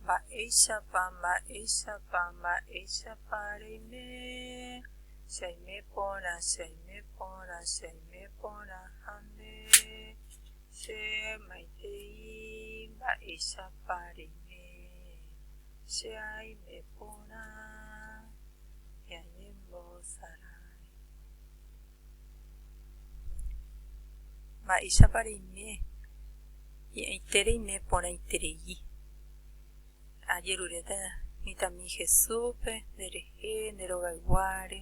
Mba'éichapa, mba'éichapa, mba'éichapa reime, che aime porã, che aime porã, che aime porã ha nde che maitei, mba'éichapa reime, che aime porã, che aime mbosarái. Mba'éichapa reime hi'ãite reime porãiterei. Ajeruréta mitãmi Jesúspe, nderehe, nde rogayguáre,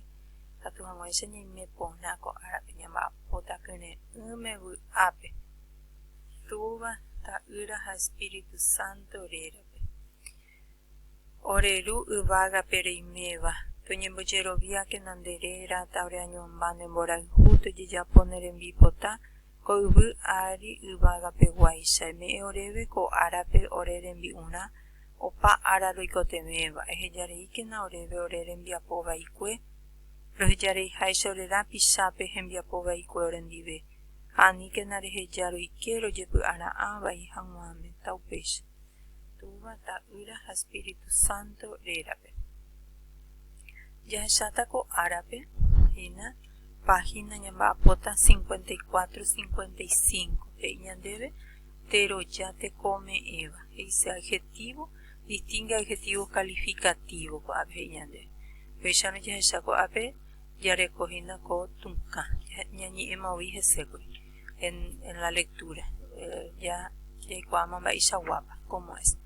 katu hag̃uáicha ñaime porã ko árape, ñamba'apóta kyre'ỹme vy'ápe, Túva, Ta'ýra ha Espíritu Santo rérape. Ore Ru yvágape reiméva, toñembojeroviákena nde réra ta oreañomba ne mborayhu tojejapo ne rembipota ko yvy ári yvágape guáicha. Eme'ẽ oréve ko árape ore rembi'urã opa ára roikotevẽva, ehejareíkena oréve ore rembiapo vaikue, rohejareiháicha ore rapichápe hembiapo vaikue orendive, ha aníkena reheja roike rojepy'ara'ã vai hag̃uáme. Ta upéicha. Túva, Ta'ýra ha Espíritu Santo rérape. Jahecháta ko árape, hína página ñamba'apóta 54, 55. He'i ñandéve, teroja tekome'ẽva. He'ise adjetivo, distingue adjetivo calificativo ko'ápe he'i ñandéve. Upéicharõ jahecha ko'ápe jarekohína ko tũkã, ñañe'ẽma voi hesékuri. en, en la lectura, eh, ya jaikuaáma mba'eichaguápa, cómo es.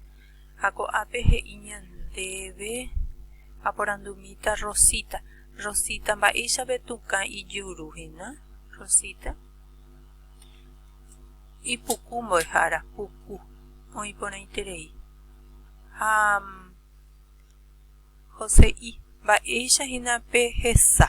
Ha ko'ápe he'i ñandéve aporandumíta Rosita. Rosita mba'éichave tukã ijuru hína, Rosita. Ipuku mbo'ehára, puku, oĩ porãiterei. Ha mm, José'i, mba'éicha hína pehesa.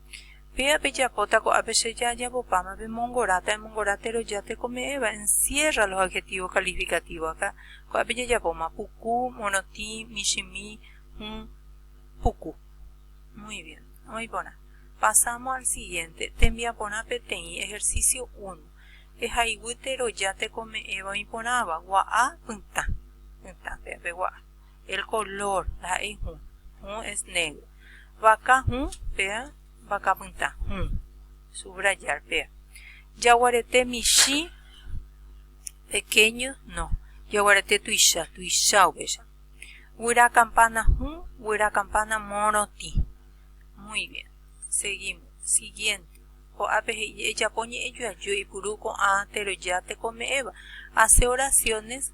Péva pejapóta ko'ápe che jajapopáma pemongoráta, emongora térõ ja tekome'ẽva, encierra los adjetivos calificativos acá. Ko'ápe jajapóma, puku, morotĩ, michĩmi, hũ, puku. Muy bien. Oĩ porã. Pasamos al siguiente. Tembiaporã peteĩ, ejercicio uno. Ehayguy térõ ja tekome'ẽva oĩ porãva, gua'a, pytã. Pytã, péva pe gua'a. El color ndaha'éi hũ. Hũ es negro. Vaka hũ, péa, vakapytã hũ. Subrayar, péa. Jaguarete michĩ, pequeño, no. Jaguarete tuicha, tuicha upéicha. Guyra campana hũ, guyra campana morotĩ. Muy bien. Seguimos. Siguiente. Ko'ápe he'i ejapo ñe'ẽjoajy oipuru ko'ã teroja tekome'ẽva. Hace oraciones.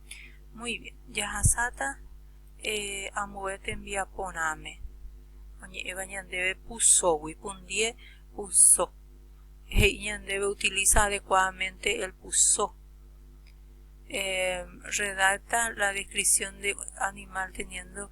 Muy bien. Jahasáta eh, ambue tembiaporãme. Oñe'ẽva ñandéve pusógui, pundie puso. He'i ñandéve utiliza adecuadamente el puso. Eh, redacta la descripción de animal teniendo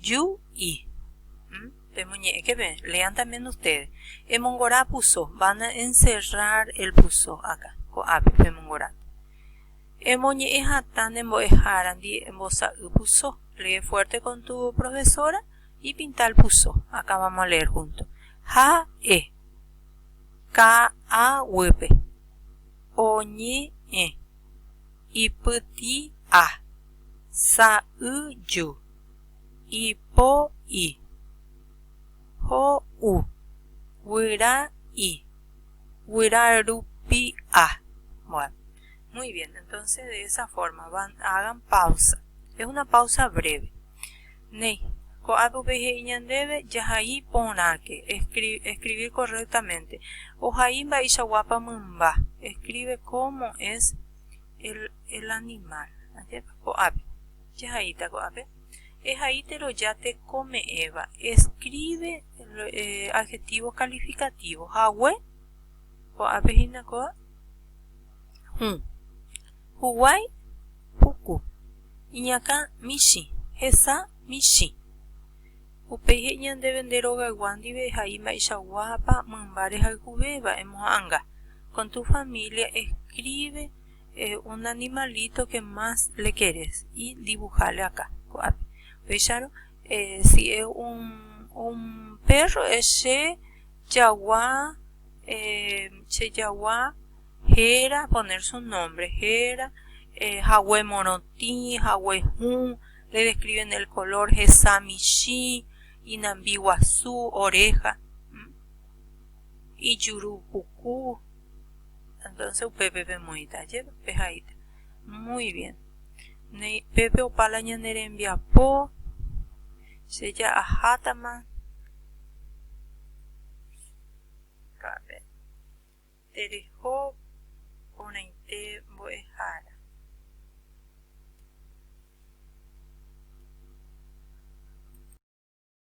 Yu i. Pemoñe'ẽke pe, lean también ustedes. Emongora puso, van a encerrar el puso acá, ko'ápe pemongora. Emoñe'ẽ hatã ne mbo'ehárandi embosa'y puso. Lee fuerte con tu profesora y pinta el puso. Acá vamos a leer junto. Ha'e. Ka'aguýpe. Oñe'ẽ. ipyti'a, sa'yju, ipo'i, ho'u, guyra'i, guyrarupi'a. Bueno, muy bien, entonces de esa forma, hagan pausa, es una pausa breve. Néi, ko'ã rupi he'i ñandéve jahai porãke, escribir correctamente, ohai mba'eichaguápa mymba, escribe cómo es el animal, ajépa, ko'ápe, jahaíta ko'ápe, ehaítero ja tekome'ẽva, escribe adjetivo calificativo, hague, ko'ápe hína kóva, hũ, huguái, Puku, iñakã michĩ, hesa michĩ. Upéi he'i ñandéve nde rogaygua ndive eha'i mba'eichaguápa mymba rehayhuvéva emoha'anga. Con tu familia escribe un animalito que más le querés y dibujale acá, ko'ápe. Upéicharõ, si es un perro, es che jagua, che jagua. Héra, poner su nombre, héra, hague morotĩ, hague hũ, le describen el color, hesa michĩ, inambi guasu, oreja, ijuru puku, entonce upépe pemoĩta jee, pehaíta. Muy bien. Néi, pépe opa la ñane rembiapo, che ja'ahátama. Tereho porãite mbo'ehára.